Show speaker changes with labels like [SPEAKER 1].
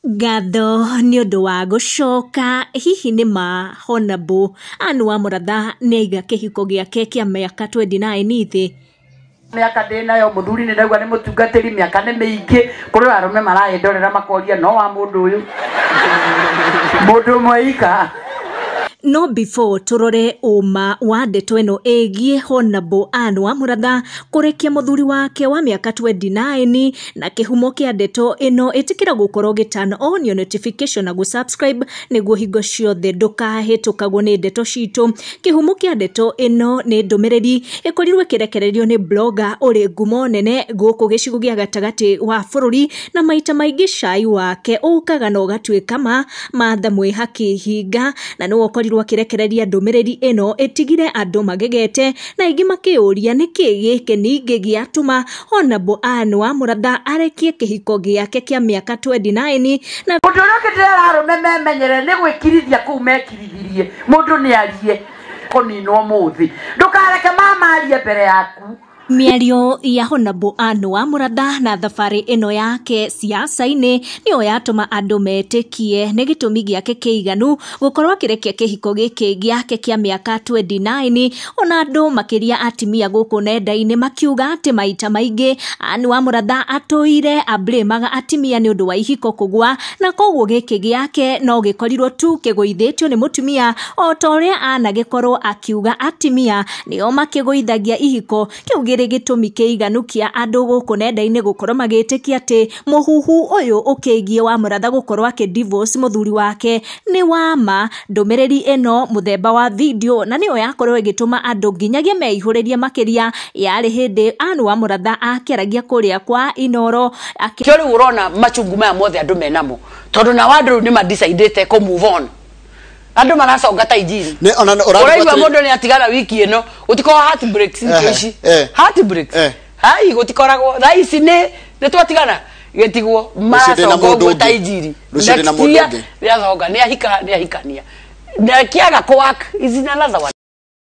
[SPEAKER 1] Ngatho nĩ ũndũ wa gũcoka, hihi nĩ ma Hon-Nabu Ann wa Mũratha nĩ aiga kĩhiko gĩake kĩa mĩaka twendi naĩni thĩ? Mĩaka
[SPEAKER 2] ndĩnayo mũthuri nĩ ndaigua nĩ mũtungatĩri mĩaka nĩ mĩingĩ kũrĩ o arũme marandorera makoria no wa mũndũ ũyũ mũndũ ũmwe ika. No
[SPEAKER 1] before tũrore ũma wa ndeto ĩno ĩgiĩ Hon-Nabu Ann wa Mũratha kũrekia mũthuri wake wa mĩaka twendi naĩni, na kĩhumo kĩa ndeto ĩno ĩtĩkĩra gũkorwo gĩ turn on your notification na gũsubscribe nĩguo hingo ciothe ndũkahĩtũkagwo nĩ ndeto citũ kĩhumo kĩa ndeto ĩno nĩ ndũmĩrĩri ĩkorirwo ĩkĩrekererio nĩ blogger ũrĩ ngumo nene gũkũ gĩcigo gĩa gatagatĩ wa bũrũri na maita maingĩ cai wake ũkaga na ũgatuĩka ma matha mwĩhaki hinga na nĩwe ũkorirwo akĩrekereria ndũmĩrĩri ĩno ĩtigire andũ magegete na aingĩ makĩyũria nĩkĩ gĩkĩ ningĩ gĩatũma Hona Boan wa Mũratha arekie kĩhiko gĩake kĩa mĩaka 29 na Mũndũ ũrĩa ũkĩndĩra ararũme
[SPEAKER 2] memenyere nĩ gwĩkirithia kũu mekirithirie mũndũ nĩ arie kũninwo mũthĩ ndũkareke mama arie mbere yaku mĩario
[SPEAKER 1] ya Hona Boan wa Mũratha na thabarĩ ĩno yake siasa-inĩ nĩyo yatũma andũ metĩkie nĩ gĩtũmi gĩake kĩiganu gũkorwo akĩrekia kĩhiko gĩkĩ gĩake kĩa mĩaka 29 ona andũ makĩria atimia gũkũ nenda-inĩ makiuga atĩ maita maingĩ Ann wa mũratha atũire ablĩmaga atimia nĩ ũndũ wa ihiko kũgwa na koguo gĩkĩ gĩake no gĩkorirwo tu kĩgũithĩtio nĩ mũtumia o ta ũrĩa anagĩkorwo akiuga atimia nĩo makĩgũithagia ihiko kĩu gĩrĩ gĩtũmi kĩiganu kĩa andũ gũkũ nenda-inĩ gũkorwo magĩtĩkia atĩ mũhuhu ũyũ ũkĩgiĩ wa mũratha gũkorwo akĩ divorce mũthuri wake nĩ wa ma. Ndũmĩrĩri ĩno mũthemba wa video na nĩyo yakorwo ĩgĩtũma andũ nginyagia meihũrĩrie makĩria yarĩ hĩndĩ Ann wa mũratha akĩaragia kũrĩa kwa Inooro akĩ kĩo rĩu ũrona
[SPEAKER 2] machungu maya mothe andũ menamo tondũ nao andũ rĩu nĩ ma decide kũ move on andå maraconga ta injiri Nĩ- ona ũraigua ũraigua atĩrĩ- må ndå nä atigara wiki ä no gå tikorwo heart breaks thikå Ehe, ici eh. heart breaks Eh. hai gå tikoragwo thaa ici nä nä twatigana gä tigwo ndĩna maraconga mũndũ å guo ta ũngĩ. injiri Rũciũ ndĩna Next mũndũ year ũngĩ. nĩ aconga nä ahika nä ahikania nä akiaga kwak izina lazawa